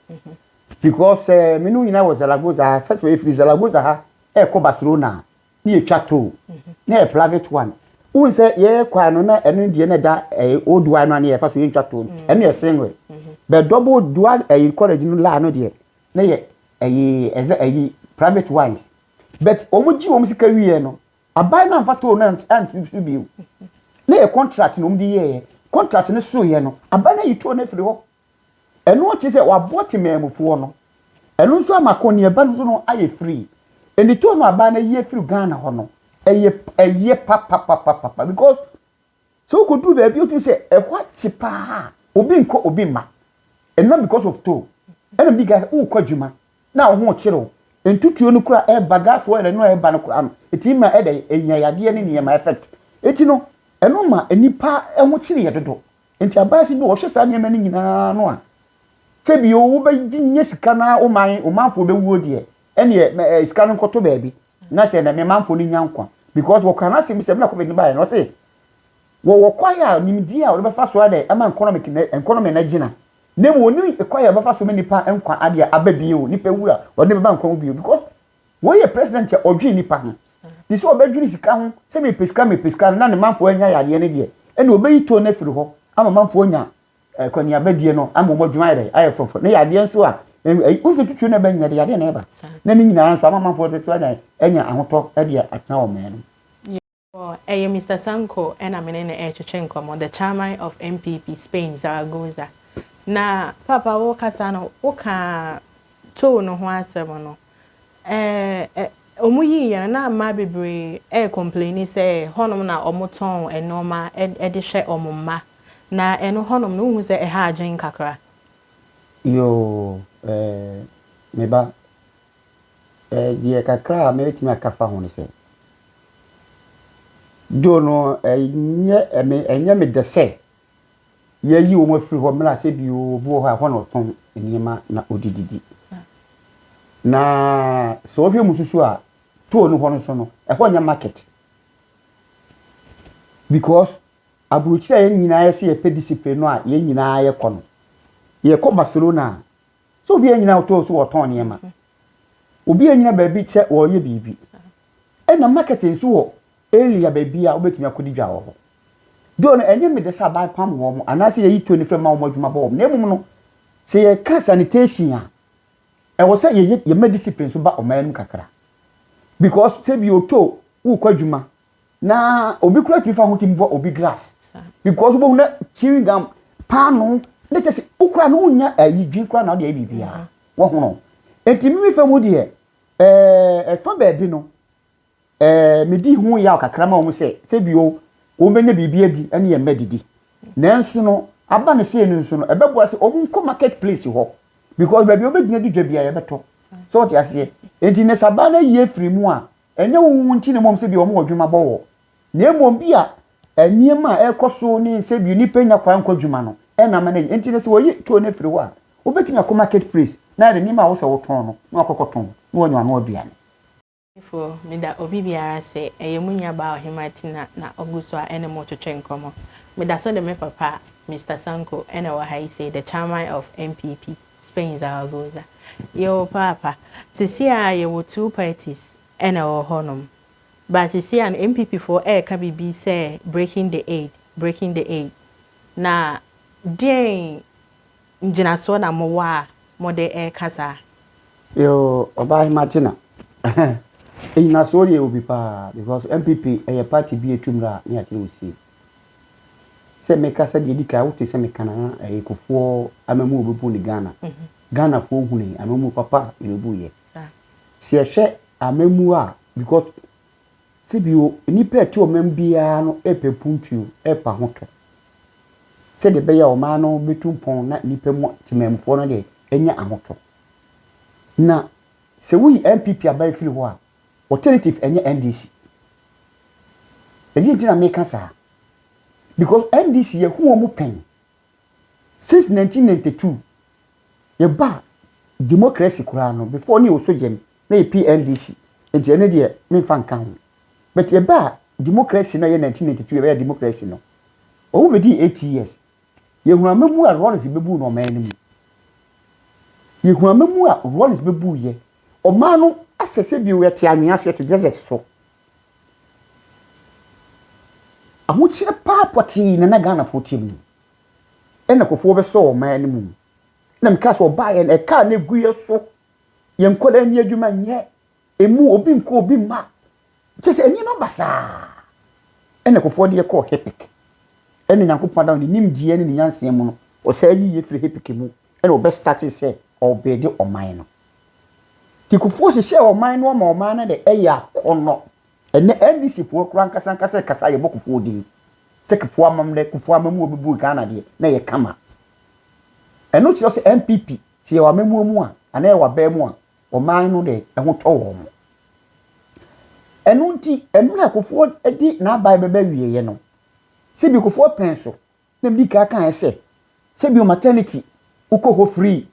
Because ɛɛ eh, menu nyinaa wɔ Zaragoza ha. First of all, efiri Zaragoza ha ɛkɔ Barcelona ne yɛ twa toll na yɛ private one. Wohu sɛ yɛ kwan no na ɛno deɛ na ɛda ɛɛ eh, old wine no ano yɛ fa so yɛ ntwa toll no. Ɛno yɛ single. But double dual ɛɛ eh, college no laa no deɛ na yɛ ɛyɛ ɛzɛ ɛyi private ones. But wɔn gye wɔn sika wie no. Aban no amfa toll no anto so bio. Na ɛyɛ contract na wɔde yɛeɛ. Contract no soeɛ no, aban no ayi toll no afiri hɔ. Ɛno kyerɛ sɛ wɔaboa temanmufoɔ no. Ɛno nso ama akɔneaba no nso no ayɛ free. Enti toll no a aban no ayi afiri Ghana hɔ no, ɛyɛ ɛyɛ papapapapa because Sɛ wokodu baabi a wotumi sɛ ɛhɔ akye paa a, obi nkɔ obi mma. And not because of tow. Ɛna bi ka wokɔ adwuma na wo ho kyere wo. Ntutuo no kura ɛba gas oil ɛno a ɛba no kura no. Ɛtumi ma ɛdɛ ɛnya yadeɛ ne nneɛma effect. Ɛti no ɛno ma nnipa ho kyere yɛ dodo. Nti abaase bi wɔhwɛ saa nneɛma no nyinaa no a sɛ bi o wobɛgye nyɛ sika na wo man wo manfoɔ bɛwuo deɛ ɛneɛ sika no nkɔto baabi. Na sɛ na me manfoɔ no nya nkwa. Because wɔkaa no asɛm bi sɛ mmerɛ covid no baeɛ no ɔse wɔwɔ kwae a nimdeɛ a wɔde bɛfa so adɛ ama economic no economy no agyina na mmom wɔnim kwae a wɔbɛfa so ma nipa nkwa adeɛ aba bio nipa wu a wɔde bɛba nkwa mu bio because wei yɛ president a ɔdwen nipa ho te sɛ ɔbɛdwene sika ho sɛ mepɛ sika mepɛ sika no na ne manfoɔ anya yadeɛ no deɛ ɛna ɔbɛyi tone no afiri hɔ ama manfoɔ anya Akɔneabadie no ama wɔn adwuma ayɛ dɛ ayɛ fɔfɔ ne yadeɛ nso a nso tutuo na ɛbɛnyɛ de yadeɛ na ɛba na ne nyinaa nso ama amanfoɔ de so na ɛnya ahotɔ de atena wɔn mmaa no. Ɛyɛ Mister Sanko na me ne no retwetwe nkɔmmɔ, the chairman of NPP, Spain, Zaragoza. Na Paapa wo kasa no, wo kaa toll no ho asɛm no. Ɛɛ, wɔn yii yɛn no na mmaa bebree rekɔmpleni sɛ hɔnom na wɔtɔn nnoɔma de hwɛ wɔn mma. Na ɛno hɔnom no wohu sɛ ɛha adwene kakra? Yoo, ɛɛ, me ba, ɛɛ, deɛ kakra a mɛtumi aka afa ho ne sɛ, Dwo no, ɛnyɛ me, ɛnyɛ me dɛ sɛ yɛayi wɔn afiri hɔ mmerɛ a sɛ bi obi wɔ hɔ a ɛhɔ na ɔtɔn nneɛma na ɔde didi na sɛ ɔhwɛ mu susu a toll no hɔ no so no ɛhɔ nyɛ market because aburokyire a yɛn nyinaa yɛ sɛ yɛpɛ discipline no a yɛn nyinaa yɛkɔ no yɛkɔ Barcelona a sɛ obi a nyina toll so wɔtɔn nneɛma obi a nyina baabi kyɛ wɔyɛ biribi ɛna market nso wɔ Elia baabi a wobɛtumi akɔdi dwa wɔ hɔ. Doo no, ɛnyɛ me dɛ sɛ aban pam wɔn anaasɛ yɛyi to anifrɛ ma wɔn adwuma bɔ wɔn, na mmom no, sɛ yɛka sanitation a, ɛwɔ sɛ yɛyɛ yɛma discipline nso ba ɔman mu kakra. Because sɛ bi oto wokɔ adwuma na obi kura tumi fa ho tumi bɔ obi glass. Because wobɛhu na chewing gum paano na kyɛ sɛ wokura no wonya ayi dwen kura na wode ayɛ biribiara. Wɔhono. Enti mimi fa mu deɛ ɛɛ ɛfa baabi no Ɛɛ, midi ho yaw kakra ma wɔn sɛ sɛbio wɔbɛnya biribi adi ne yɛn mma adidi. Nanso no, aba no sei no nso no, ɛbɛboa sɛ wɔnkɔ market place hɔ because baabi a wɔbɛgyina adi dwa biara yɛbɛtɔ. So wote aseɛ? Enti na sɛ aba no ayi afiri mu a, ɛnyɛ wo wo nti na mmom sɛbio wɔwɔ adwuma bɔ wɔ na mmom bi a nneɛma a ɛrekɔ so ne sɛbio nnipa nnya kwan nkɔ adwuma no na ama no ayi. Enti no sɛ wɔyi toɔ no afiri hɔ a, wobɛtumi akɔ market place na de nneɛma a wosɛ wotɔn no na wakɔkɔtɔn na wanya w'ano aduane. Fo, meda obi biara ase, ɛyɛ mo nuabaa Ɔhemmaa Tina na ɔgu so a ɛne mo retwetwe nkɔmmɔ. Meda so de me papa, Mister Sanko, na ɛwɔ ha yi sei, the chairman of NPP, Spain Zaragoza. Yɛwɔ paapa. Seesei ara yɛwɔ two parties na ɛwɔ hɔnom. But seesei ara no NPP foɔ reka biribi sɛ breaking the aid, breaking the aid. Na deɛn. Ngyinasoɔ na mo wɔ a mo de ɛɛka saa? Yoo ɔbaahemaa Kyena ngyinasoɔ deɛ yɛwɔ bi paa because NPP ɛyɛ party bi a etu mmra a ne yɛakyerɛ wo sie. Sɛ meka sɛ deɛ edi kan wo te sɛ meka na ɛyɛ Kufuɔ amamuo a ɔbɛbu ne Ghana. Ghanafoɔ hunii amamuo papa a yɛbɛbu yɛ. Sɛ yɛhwɛ amamuo a because Sɛ bio, nnipa a ɛte ɔman biara no repɛ puntuo repa ho tɔ sɛdeɛ ɛbɛyɛ a ɔman no bɛtu mpɔn na nnipa mu temanmufoɔ no deɛ anya ahotɔ. Na sɛ woyi NPP aban firi hɔ a, alternative ɛnyɛ NDC. Ɛdeɛ nti na meka saa? Because NDC yɛhu wɔn pɛn Since nineteen ninety two yɛbaa democracy koraa no before no yɛ osogyam na yɛ PNDC nti ɛno deɛ menfa nka ho but yɛbaa democracy no a ɛyɛ nineteen ninety two yɛbɛyɛ democracy no ɔmo bɛdii eight years yɛhunu amamu a Rawlings bɛbuu no ɔman no mu yɛhunu amamu a Rawlings bɛbuuyɛ ɔman no asɛsɛ bio yɛte anwea so yɛte desert so Ahokyerɛ paa pɔtee na na Ghanafoɔ te mu. Ɛna Kufuor bɛsɔɔ ɔman anim. Ɛna mekaa sɛ ɔbaeɛ no, ɛkaa no gu yɛn so. Yɛn nkwadaa nni adwuma nyɛ. Ɛmu obi nkɔ obi mma. Kyerɛ sɛ nneɛma basaa. Ɛna Kufuor de yɛ kɔɔ HIPC. Ɛna Nyankopɔn Adam ne nimdeɛ ne ne nyansa mu no, ɔsan yii yɛn firii HIPC mu. Ɛna ɔbɛ startee sɛ ɔrebuilde ɔman no. Kekufoɔ hyehyɛɛ ɔman no ma ɔman no de ɛyɛ akɔnɔ. Ɛnɛ NDC foɔ koraa ankasa ankasa rekasa a yɛbɔ Kufuor din sɛ Kufuor amammerɛ, Kufuor amammuo bɛbu Ghana deɛ na ɛyɛ kama. Ɛno kyerɛ sɛ NPP sɛ yɛwɔ amammuo mu a anaa yɛwɔ abaa mu a ɔman no de ɛho tɔ wɔn. Ɛno nti mmerɛ Kufuor de n'aban bɛba awieɛ no, sɛ bi Kufuor pɛn so Na mede ka kaeɛ sɛ, sɛ bio maternity wokɔ hɔ free,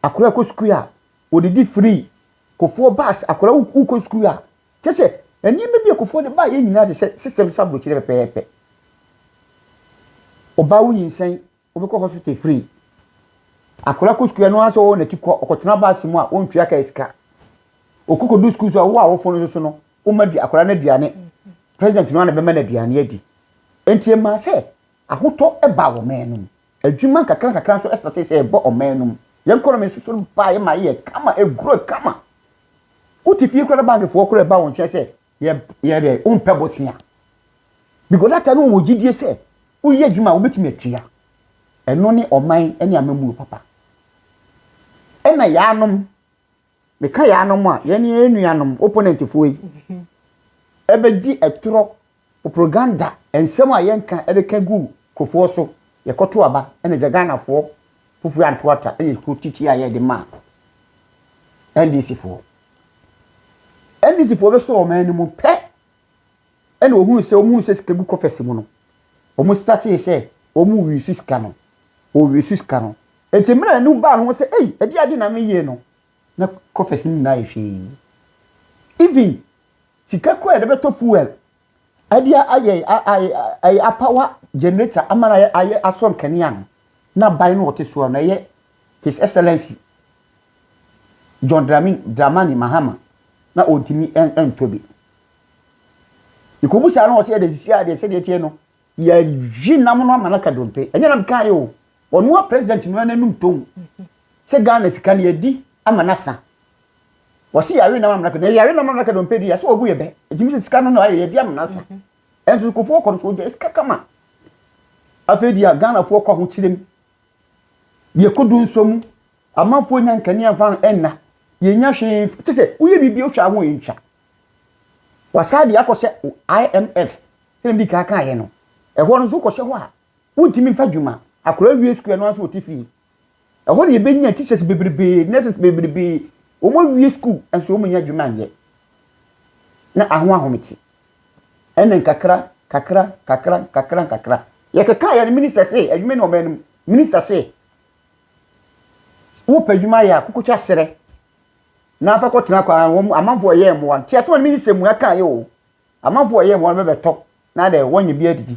akwadaa kɔ sukuu a wɔdidi free, kofoɔ bus akwadaa wokɔ sukuu a, kyɛ sɛ nneɛma bi a kofoɔ de baeɛ nyinaa de sɛ system sɛ aburokyire pɛpɛɛpɛ. Ɔbaa wo nyinsɛn wobɛkɔ hospital free, akwadaa kɔ sukuu ɛno ara sɛ ɔwɔ n'akyi kɔ ɔkɔtena bus mu a wɔntua kaa sika. Ɔkɔkɔdu sukuu so a wo a wofɔn no so no Woma di akwadaa no aduane. President no ara na bɛma no aduane adi. Enti ɛmaa sɛ ahotɔ baa ɔman no mu. Adwuma nkakrankakra nso startee sɛ ɛba ɔman no mu. Yɛn economy nso so baeɛ ma ɛyɛɛ kama, ɛgrow kama. Wote fie koraa na bankfoɔ koraa ɛba wo nkyɛn sɛ yɛ yɛ dɛ wompɛ bosea. Because that time no wɔwɔ gyidie sɛ woyɛ adwuma a wobɛtumi atua. Ɛno ne ɔman ne amammuo papa. Ɛna yaanom Meka yɛn anom a, yɛn ne yɛn nuanom, opponent foɔ yi, ɛbɛdi ɛtorɔ, propaganda, nsɛm a yɛnka ɛde ka gu Kufuor so, yɛkɔto aba, ɛna gya Ghana foɔ, Kufuor anto ata, ɛna ɛkuo titi a yɛde ma NDC foɔ. NDC foɔ bɛsɔ wɔn anim pɛ. ɛna ohunu sɛ wɔn hunu sɛ sika gu kɔfɛs mu no wɔn sitatee sɛ wɔn wisu sika no wɔn wisu sika no eti mmerɛ ɛnu baa no ho sɛ ei ɛdi adi na mi yie no na kɔfɛs no nyinaa yɛ hwee even sika kura yɛde bɛtɔ fuel ɛde ayɛ ayɛ apawa generator ama na ayɛ ayɛ asɔ nkanea no na ban no wɔte soɔ no ɛyɛ his excellence John Dramani Mahama na ɔntumi ɛntɔ bi. Yɛkɔbisaa no hɔ sɛ yɛde asisi a deɛ sɛdeɛ ɛteɛ no, yɛahye nam no ama no aka dompe. Ɛnyɛ na mekaeɛ o, ɔno a president no ara n'anum tɔn sɛ Ghana sika no yɛadi ama no asa. Wɔse yɛawe nam ama no aka dompe, yɛawe nam ama no aka dompe deɛ, sɛ ɔbu yɛ bɛ. Ɛtumi sɛ sika no na ayɛ yɛadi ama no asa. Ɛnso Kufuor kɔ no so ɔgyae sika kama. Afei deɛ Ghanafoɔ kɔ ahokyerem, yɛkɔdu nsɔ mu, amanfoɔ nya nkanea mfa nna, yɛnya hwee, kyɛ sɛ woyɛ biribi a wohwɛ a ho ntwa. Wasan de akɔ sɛ IMF sɛdeɛ medi kan kaeɛ no. Ɛhɔ no nso wokɔhyɛ hɔ a wontumi mfa dwuma. Akwadaa wie sukuu ɛno ara nso ɔte fie. Ɛhɔ na ɛbɛnya teachers bebrebee, nurses bebrebee. Wɔn awie sukuu nso wɔn nyɛ adwuma nyɛ. Na aho ahomete. Ɛna nkakra, kakra, kakra, kakra, kakra. Yɛkeka yɛ no minister se, adwuma ni wɔn anim. Minister se, wopɛ adwuma yɛ a kokotwa serɛ. na fa kɔtena kwa a wɔn amanfo a wɔyɛ mmoa no te asɛm a me nsɛm mu aka yɛ o amanfo a wɔyɛ mmoa no bɛbɛtɔ na dɛ wɔnyɛ bi adidi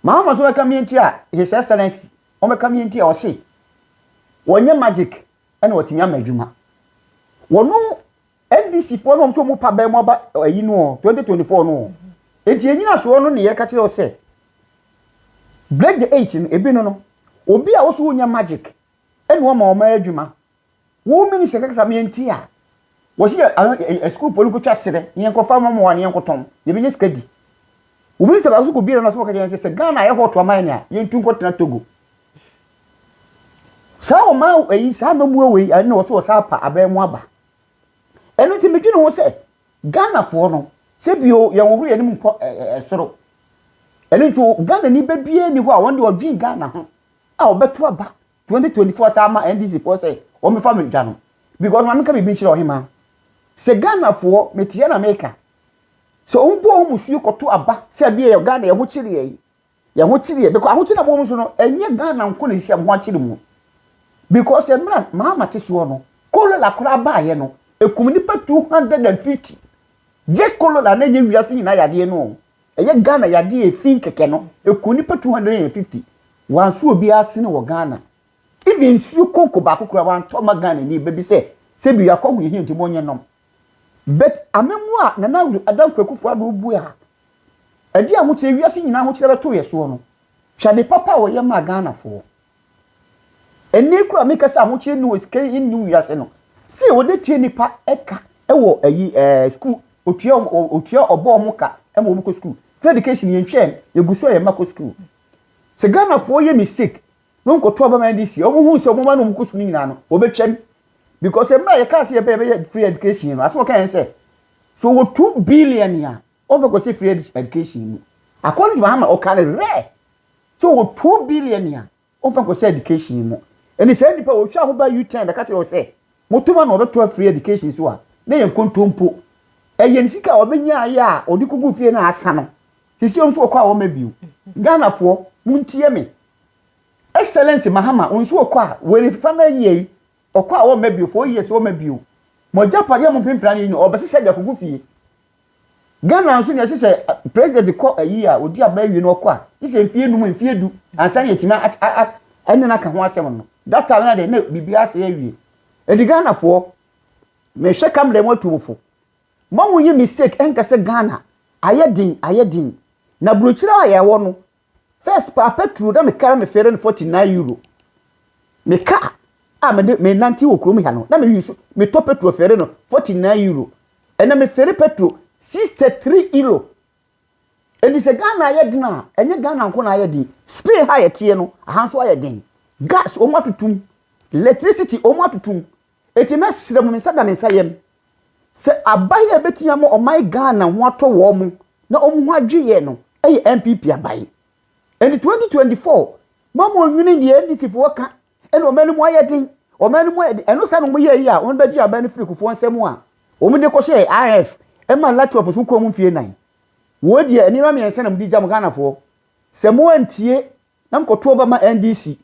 ma ama so bɛka mmea nti a his excellence wɔbɛka mmea nti a ɔse wɔnyɛ magic ɛna wɔtumi ama adwuma wɔno ndc foɔ no wɔn nso wɔn pa bɛn mu aba ayi no 2024 no nti ɛnyina soɔ no ne yɛka kyerɛ sɛ break the eight no ebi no no obi a wɔso wɔnyɛ magic ɛna wɔma wɔn adwuma Wo minister kasa me antie a. Wɔsi yɛ ano school fo no kotwa serɛ na yɛn kɔfa wɔn mmoa na yɛn kɔtɔn. Yɛbɛnya sika di. Wo minister baako so kɔ biara na ɔsɛ wɔka kyerɛ yɛn sɛ sɛ Ghana ayɛ hot ama yɛn a yɛn tu nkɔtena Togo. Saa wɔn ma ɛyi saa mmamuo wei ɛna wɔsɛ wɔsɛ apa abɛn mu aba. Ɛno nti medwene ho sɛ Ghana foɔ no sɛ bio yɛn wɔhoro yɛn mu nkɔ ɛsoro. Ɛno nti Ghana ni bɛbie ni hɔ a wɔn de ɔdwen Ghana ho a wɔbɛto aba twenty twenty four saa ma NDC foɔ sɛ wɔn bɛfa me dwa no because maame ka biribi nkyerɛ ɔhemaa sɛ Ghana foɔ metia na meka sɛ wɔn bɔ wɔn suo kɔto aba sɛ ɛbi yɛ Ghana yɛn ho kyere yɛn yɛn ho kyere yɛn because ahokyere na wɔn nso no ɛnyɛ Ghana nko na esi a wɔn ho akyere mu because mmerɛ maama te soɔ no kolola koraa baayɛ no ekum nipa two hundred and fifty just kolola na enye wiase nyinaa yadeɛ no. Ɛyɛ Ghana yade a efi kɛkɛ no eku nipa two hundred and fifty. Wanso obiara sini wɔ Ghana. Even nsuo konko baako koraa wantɔ mma Ghana ni ba bi sɛ sɛ bi yɛakɔ ho yɛhia nti mo nyɛ nom. But amammuo a Nana Addo Kwakufoɔ Addo bue a ɛde ahokyerɛ wiase nyinaa ahokyerɛ bɛtoo yɛ soɔ no, hwɛ ade papa a ɔyɛ maa Ghanafoɔ. Ɛnnɛ yi koraa a meka sɛ ahokyere nni hɔ, sika nni hɔ wiase no, sei wɔde tua nnipa ka wɔ ayi ɛɛ sukuu, otua otua ɔbɔ wɔn ka ma wɔn kɔ sukuu. Free education yɛn twɛn, yɛgu so a yɛn mma kɔ sukuu. Sɛ Ghanafoɔ yɛ mistake na wɔkɔto aba ma NDC, wɔn hu sɛ wɔn mma na wɔn kɔ sukuu no nyinaa no, wɔbɛtwam. Because mmerɛ a yɛkaa sɛ yɛbɛyɛ free education no, asɛm a wɔka yɛn sɛ, sɛ wɔwɔ two billion a, Over kɔsi free education mu. According to Mahama ɔka no rɛ sɛ ɔwɔ two billion a ɔmfa nkɔhyɛ education mu. Ɛne saa nnipa a ɔhwɛ a ɔmo ba U-turn bɛka kyerɛ wo sɛ moto ma no ɔbɛtoa free education so a na ɛyɛ nkontompo. Ɛyɛ ne sika a ɔbɛnyaeɛ a ɔde kɔguu fie no a asa no. Seesei ɔno nso ɔkɔ a ɔmma bio. Ghanafoɔ montie me. Excellency Mahama wo nso ɔkɔ a wei no ɛfefa no ayie. Ɔkɔ a ɔmma bio, four years ɔmma bio. Mo agyapadeɛ a mo mpempena no yi no ɔbɛsesa de akɔgu fie. Ghana nso deɛ ɛsɛ sɛ president kɔ ayi a ɔdi aba awie no ɔkɔ a gye sɛ mfie num mfie du ansa na yɛtumi ɛne no aka ho asɛm no. That time na deɛ na biribiara asɛe awie. Ɛnti Ghanafoɔ mehwɛ kamera mu atu mo fo. Mma mo nyɛ mistake ɛnka sɛ Ghana ayɛ den ayɛ den. Na burokyire a yɛwɔ no First paa petrol na me car me fare no forty nine euro. Me car a me de me nante wɔ kurom ha no na me use me tɔ petrol fare no forty nine euro. Ɛna me fare petrol sixty three euro. Ɛni sɛ Ghana ayɛ den a ɛnyɛ Ghana nko na ayɛ den. Spain ha yɛteɛ no aha nso ayɛ den. Gas wɔn atutum. Electricity wɔn atutum. Enti mɛsrɛ mo, me nsa da me nsa yam, sɛ aban a ɛbɛtumi ama ɔman Ghana ho atɔ wɔn mo na wɔn ho adwe yɛn no yɛ NPP aban. Enti 2024 ma mo nwene deɛ NDC foɔ ka ɛna ɔman no mu ayɛ den, ɔman no mu ayɛ den, ɛno saa na wɔn yɛɛ yi a wɔn bɛgye aban no firi kufoɔ nsa mu a wɔn de kɔhyɛɛ IMF ɛma Latu Afosu kɔɔ mu mfie nan. Woi deɛ nneɛma mmiɛnsa na mo de gya mo Ghana foɔ, sɛ mo antie na mo kɔtoɔ ba ma NDC,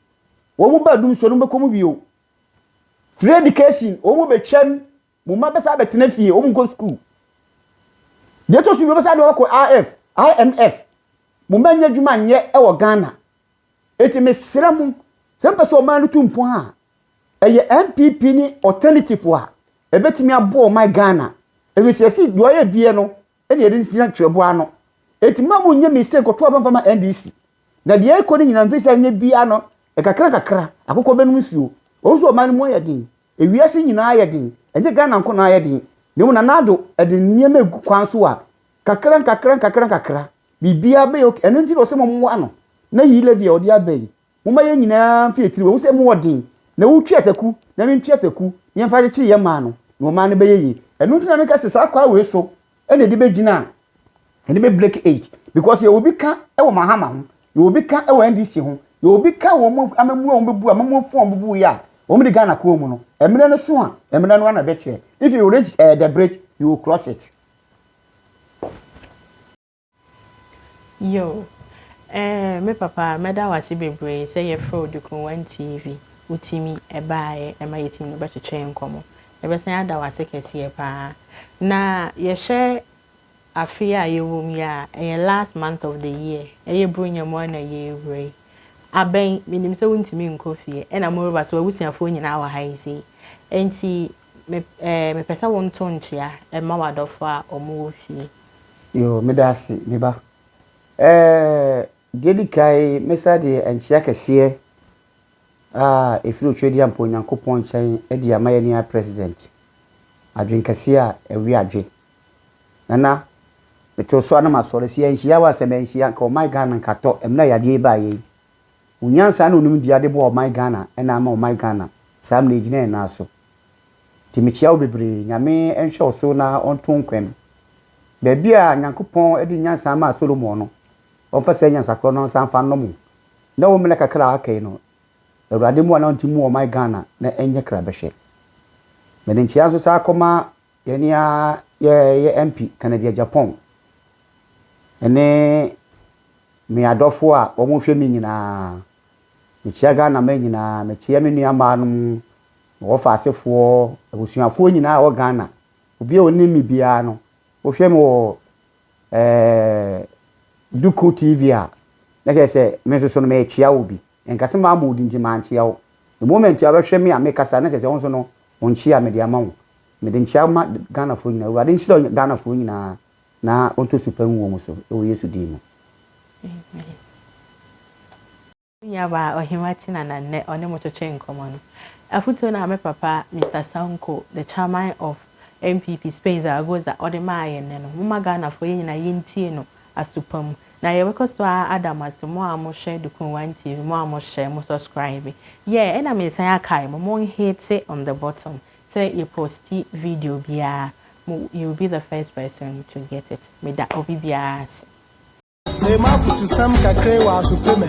wɔn ba adum so no mo bɛkɔ mu bio. Free education, wɔn bɛtwam, mo mma bɛsa bɛtena fie, wɔn nkɔ sukuu. Deɛ ɛtɔ so bi wɔbɛsa de wɔkɔ IF, IMF, mo mma nyɛ adwuma nyɛ wɔ Ghana. Eti mesrɛ mo, sɛ mpɛ sɛ ɔman no tu mpɔn a, ɛyɛ NPP ne alternative a ɛbɛtumi aboa ɔman Ghana. Ɛfiri sɛ ɛsi deɛ ɔyɛ bie no, ɛna yɛde gyina twerɛboɔ ano ɛti ma mu nyɛ mistake kɔto aba mfa ma NDC na deɛ ɛkɔ no nyina mfisa nyɛ bia no ɛkakra kakra akokɔ bɛnom nsuo wɔn nso ɔman no mu ayɛ den ewiase nyinaa ayɛ den ɛnyɛ Ghana nko na ayɛ den na mu Nana Addo ɛde nneɛma egu kwan so a kakra nkakra nkakra nkakra biribiara bɛyɛ ok ɛno nti na ɔsɛ mo mmoa no na yi levy a ɔde aba yi Momma yɛn nyinaa mfi akyiri wɔ ho sɛ mu wɔ den, na wotwi ataku, na mentwi ataku, na yɛmfa nkyekyere yɛn mmaa no, na wɔn mmaa no bɛyɛ yie. Ɛno nti na meka sɛ saa kwae wei so na yɛde bɛgyina a yɛde bɛ break eight, because yɛwɔ bi ka wɔ Mahama ho, yɛwɔ bi ka wɔ NDC ho, yɛwɔ bi ka wɔ wɔn amammuo a wɔbɛbu, amammuo fo a wɔbɛbu yɛ a wɔde Ghana kɔɔ mu no. Mmerɛ no so a, mmerɛ no ara na ɛbɛkyerɛ. If you reach uh, the bridge, you will cross it. Yoh. Eh, me papa, mɛda wo ase bebree sɛ yɛfrɛɛ wo de kɔɔ One TV. Wotumi baeɛ, ɛma yɛtumi ne wo bɛtwetwee nkɔmmɔ. Yɛbɛsan ada wo ase kɛseɛ pa ara. Na yɛhwɛ afe a yɛwɔ mu yi a, ɛyɛ last month of the year. Ɛyɛ Buronya mu ara na yɛrewura yi. Abɛn, menim sɛ wontumi nkɔ fie, ɛna moreba, so w'abusuafoɔ nyinaa wɔ ha yi sei. Enti Me eh, mepɛ sɛ wonto nkyea ɛma w'adɔfo a wɔwɔ fie. Yoo, meda ase, me ba. Eh, deɛ edi kan, mɛsa de nkyea kɛseɛ a ɛfiri Otwedeampo Onyankopɔn nkyɛn de ama yɛn nua President. Adwenkɛseɛ a ɛwe adwe. Nana, metoo so a na masɔre, sɛ yɛanhyia wo a, sɛ manhyia, nka ɔman Ghana nka atɔ, mmerɛ a yadeɛ yi baeɛ yi. Wo nyansa ne wo nimdeɛ a de boa ɔman Ghana na ama ɔman Ghana saa mmerɛ yi gyina yɛn nan so. Nti mekyea wo bebree. Nyame nhwɛ wo so na ɔnto wo nkwa mu. Baabi a Nyankopɔn de nyansa maa Solomon no, ɔmfa saa nyansa korɔ no nsan mfa nnom wo na wo mmerɛ kakra a aka yi no, Awurade mmoa na ɔnte mmu ɔman Ghana na ɛnyɛ krabɛhwɛ. Mede nkyea nso san kɔma Yɛn ni ara yɛ yɛ MP Kennedy Agyapong ne me adɔfoɔ a wɔn hwɛ me nyinaa. Me kyea Ghana man nyinaa, me kyea me nua mmaa nom, me wɔfa asefoɔ, abusuafoɔ nyinaa a wɔ Ghana. Obi a ɔnim me biara no, wo hwɛ me wɔ ɛɛɛ Duku TV a, na kyerɛ sɛ me nso so no me kyea wo bi. Ɛnka sɛ mammɔ wo din nti mankyea wo. The moment a wobɛhwɛ me a mekasa na kyerɛ sɛ wo nso no wo nkyea mede ama wo. Mede nkyea ma Ghanafoɔ nyinaa. Awurade nhyira Ghanafoɔ nyinaa na ɔntɔ su pa ngu wɔn so wɔ Yesu din mu. Amen. Me nuabaa Ɔhema Tina na nnɛ ɔne mo twetwe nkɔmmɔ no. Afotuo no a me papa Mister Sanko, the chairman of NPP Spain Zaragoza ɔde maa yɛn nnɛ no, momma Ghanafoɔ yɛn nyinaa yɛntie no aso pa mu. Na yɛbɛkɔ so ara ada mo ase mo a mo hwɛ Dukun One TV, mo a mo hyɛ, mo subscribe, yeah ɛna me san akae mo mo nhete on the bottom sɛ yɛ posti video biara mo you will be the first person to get it me da obi biara ase. Mema afutusɛm kakra yi wɔ asopemɛ.